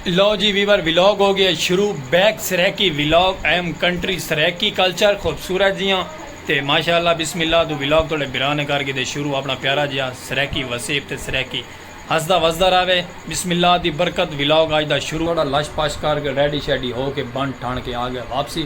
لو جی viewer vlog ہو گئے شروع بیک سرائیکی ولاگ ایم کنٹری سرائیکی کلچر خوبصورت جیاں تے ماشاءاللہ بسم اللہ توں ولاگ تہاڈے بھرا نے کر گھدے شروع اپنا پیارا جیاں سرائیکی وسیب تے سرائیکی ہسدا وسدا رہوے بسم اللہ دی برکت ولاگ اج دا شروع تہاڈا لش پش کر گھے ریڈی شیڈی ہو کے بن ٹھن کے آ گھے واپسی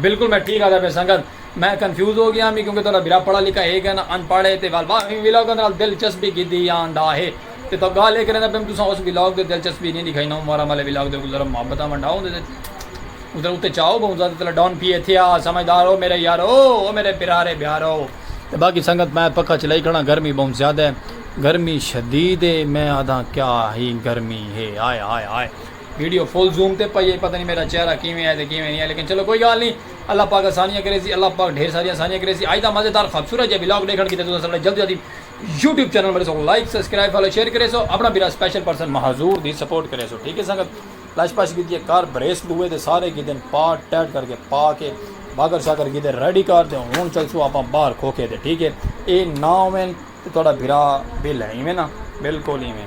بالکل میں ٹھیک آدا پہ سنگت میں کنفیوز ہو گیا میں کیونکہ تہاڈا بھرا پڑھا لکھا ہے گن ان پڑھ ہے تے وال واہ ان ویلاگ دے نال دلچسپی گدی آندا ہے تے تو گال اے کریندا پیم تساں اس ویلاگ دے دلچسپی نہیں دکھائی نو مارا مالے ویلاگ دے گزر محبت ونڈا ہوندے تے ادھر اتے چاہو بہت زیادہ تلا ڈون پی ایتھے آ سمجھدار ہو میرے یارو او میرے پیرارے بیارو تے باقی سنگت میں پکا چلائی کھڑا گرمی بہت زیادہ ہے گرمی شدید ہے میں آدھا کیا ہی گرمی ہے ہائے ہائے ہائے ویڈیو فل زوم تے پئی اے پتہ نی میڈا چہرہ کیویں اے تے کیویں نی اے لیکن چلو کوئی گالھ نی اللہ پاک آسانیاں کریسی اللہ پاک ڈھیر ساریاں آسانیاں کریسی اج دا مزیدار خوبصورت جیہا ولاگ ڈیکھن کیتے تساں سارے جلدی جلدی یوٹیوب چینل میڈے سو لائک سبسکرائب فالو شیئر کریسو اپنا بھرا سپیشل پرسن مہاظور دی سپورٹ کریسو ٹھیک اے سنگت لش پش کیتی اے کار بریسٹ دوئے تے سارے کیتے پارٹ ٹیٹ کر کے پا کے باگر شاگر کیتے ریڈی کار تے ہن چلسو اپا باہر کھوکھے تے ٹھیک اے اے نہ ہووین تے تہاڈا بھرا بل اے ایویں نہ بالکل ایویں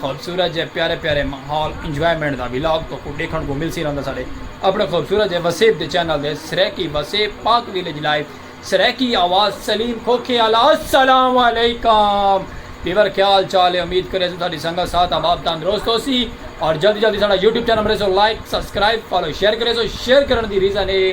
خوبصورت جے پیارے پیارے ماحول انجوائمنٹ دا ولاگ تہاکوں ڈیکھنڑ کوں ملسی رہندا ساڈے اپنڑے خوبصورت جے وسیب دے چینل تے سرائیکی وسیب پاک ویلیج لائیو سرائیکی آواز سلیم کھوکھے آلا السلام علیکم ویور کیا حال چال ہے امید کریسوں ساڈی سنگت صحت آباد تندرست ہوسی اور جلدی جلدی ساڈا یوٹیوب چینل مریسو لائیک سبسکرائیب فالو شیئر کریسو شیئر کرنڑ دی ریزن اے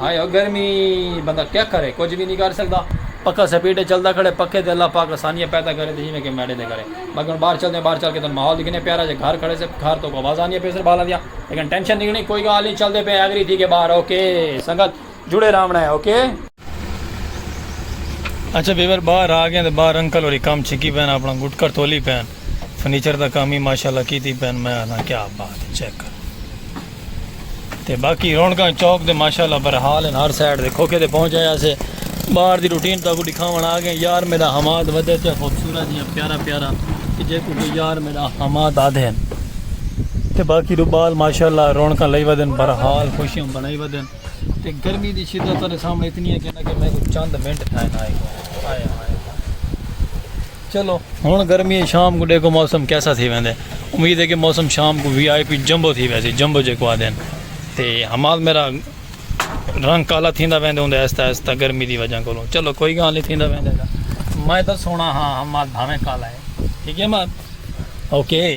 ہائے او گرمی بندہ کیا کرے کچھ وی نی کر سکدا پکھا سپیڈ اچ چلدا کھڑے پکھے تے اللہ پاک آسانیاں پیدا کرے تے جیویں کے میڈے تے کرے باقی ہن باہر چلدے آں باہر چل کے تانوں ماحول گھنے پیارا جے گھر کھڑے سے گھر توں آواز آندیاں پے سن بالاں دیاں لیکن ٹینشن نی گھنی کوئی گال نی چلدے پے ایگری تھی کے باہر اوکے سنگت جڑے راونڑا ہے اوکے۔ اچھا ویور باہر آ گئے آں تے باہر انکل ہوری کم چھکی پے ہن اپنا گٹکا ٹولی پے ہن فرنیچر دا کم ہی ماشاءاللہ کیتی پے ہن میں آکھداں کیا بات ہے چیک کرو۔ تے باقی رونکاں چوک دے ماشاءاللہ برحال ہیں ہر سائیڈ دے کھوکے دے پہنچ آیا سے باہر دی روٹین تاکو دکھاون آ گئے یار میرا حماد ودے تے خوبصورت یا پیارا پیارا کہ جے کو یار میرا حماد آدھے ہیں تے باقی رو بال ماشاءاللہ رونکاں لئی ودن برحال خوشیاں بنائی ودن تے گرمی دی شدت تارے سامنے اتنی ہے کہ میں کو چند منٹ تھائے نہ آئے آئے آئے چلو ہن گرمی شام کوں ڈیکھو موسم کیسا تھی ویندے امید ہے کہ موسم شام کو وی آئی پی جمبو تھی ویسی جمبو جے کو آدن تے حمال میرا رنگ کالا تھیندا ویندے ہوندے ایستا ایستا گرمی دی وجہ کولوں چلو کوئی گال نہیں تھیندا ویندے دا میں تو سونا ہاں حمال بھاویں کالا ہے ٹھیک ہے مات اوکے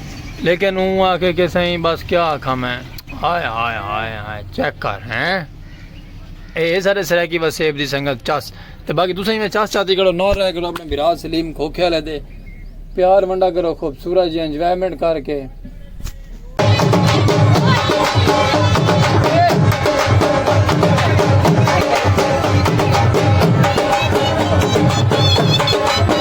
لیکن اوں آکھے کہ سئیں بس کیا آکھاں میں ہائے ہائے ہائے ہائے چیک کر ہیں اے سارے سرائیکی وسیب دی سنگت چس تے باقی تسیں میں چس چاتی کرو نور رہ کرو اپنے برا سلیم کھوکھے والے دے پیار ونڈا کرو خوبصورت جی انجوائمنٹ کر کے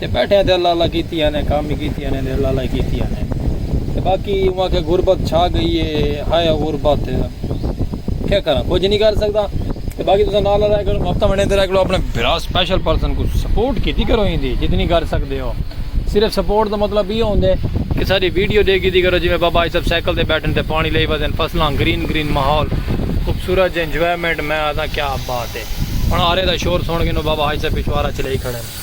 تے بیٹھے ہیں تے اللہ اللہ کیتی آنے کام بھی کیتی آنے تے اللہ اللہ کیتی آنے تے باقی اوہ کہ غربت چھا گئی ہے ہائے غربت کیا کرا کچھ نہیں کر سکتا تے باقی تسا نال رہا کرو ہفتہ مہینے تے رہا کرو اپنے بھرا سپیشل پرسن کو سپورٹ کیتی کرو ہی دی جتنی کر سکتے ہو صرف سپورٹ دا مطلب یہ ہوندے کہ ساری ویڈیو دے کیتی کرو جی میں بابا یہ سب سائیکل تے بیٹھن تے پانی لئی وزن فصلاں گرین گرین ماحول خوبصورت جی انجوائمنٹ میں آتا کیا بات ہے ہن آرے دا شور سن کے نو بابا حاج صاحب پچھوارا چلے کھڑے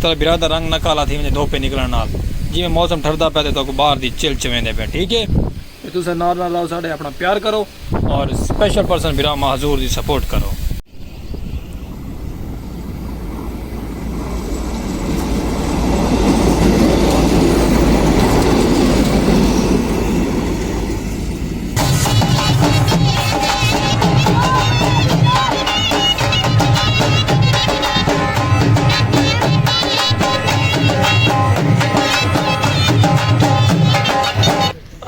تیݙے بھرا دا رنگ نہ کالا تھی ونڄے دھوپے نکلݨ نال۔ جیویں موسم ٹھردا پئے تے تہاکوں ٻاہر دی چل چویندے پئے ٹھیک اے۔ تے تساں نال نال راہو ساݙے اپݨا پیار کرو۔ اور سپیشل پرسن بھرا مہزور دی سپورٹ کرو۔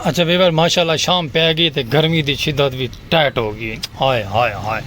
اچھا ویور ماشاءاللہ شام پہ گئی تے گرمی دی شدت بھی ٹائٹ ہو گئی ہائے ہائے ہائے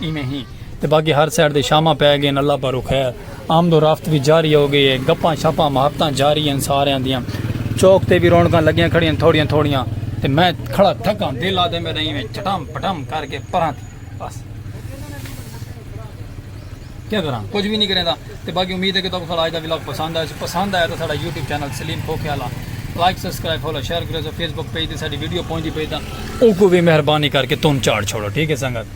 ایویں ہی تے باقی ہر سائیڈ دے شاماں پے گئین اللہ پاروں خیر آمد و رفت وی جاری ہو گئی ہے گپاں شپاں محبتاں جاری ہین ساریاں دیاں چوک تے وی رونقاں لگیاں کھڑیاں تھوڑیاں تھوڑیاں تے میں کھڑا تھکاں دل آدے میرا ایویں چٹم پٹم کر کے پراں تھی بس کیا کراں کچھ بھی نہیں کریندا تے باقی امید ہے کہ تاکو ساڑا آج دا ولاگ پسند آیا پسند آیا تو ساڑا یوٹیوب چینل سلیم کھوکھے والا لائک سبسکرائب فالو شیئر کرو فیس بک پیج تے ساڑی ویڈیو پہنچ دی پئی تاں او کو بھی مہربانی کر کے تم چاڑ چھوڑو ٹھیک ہے سنگت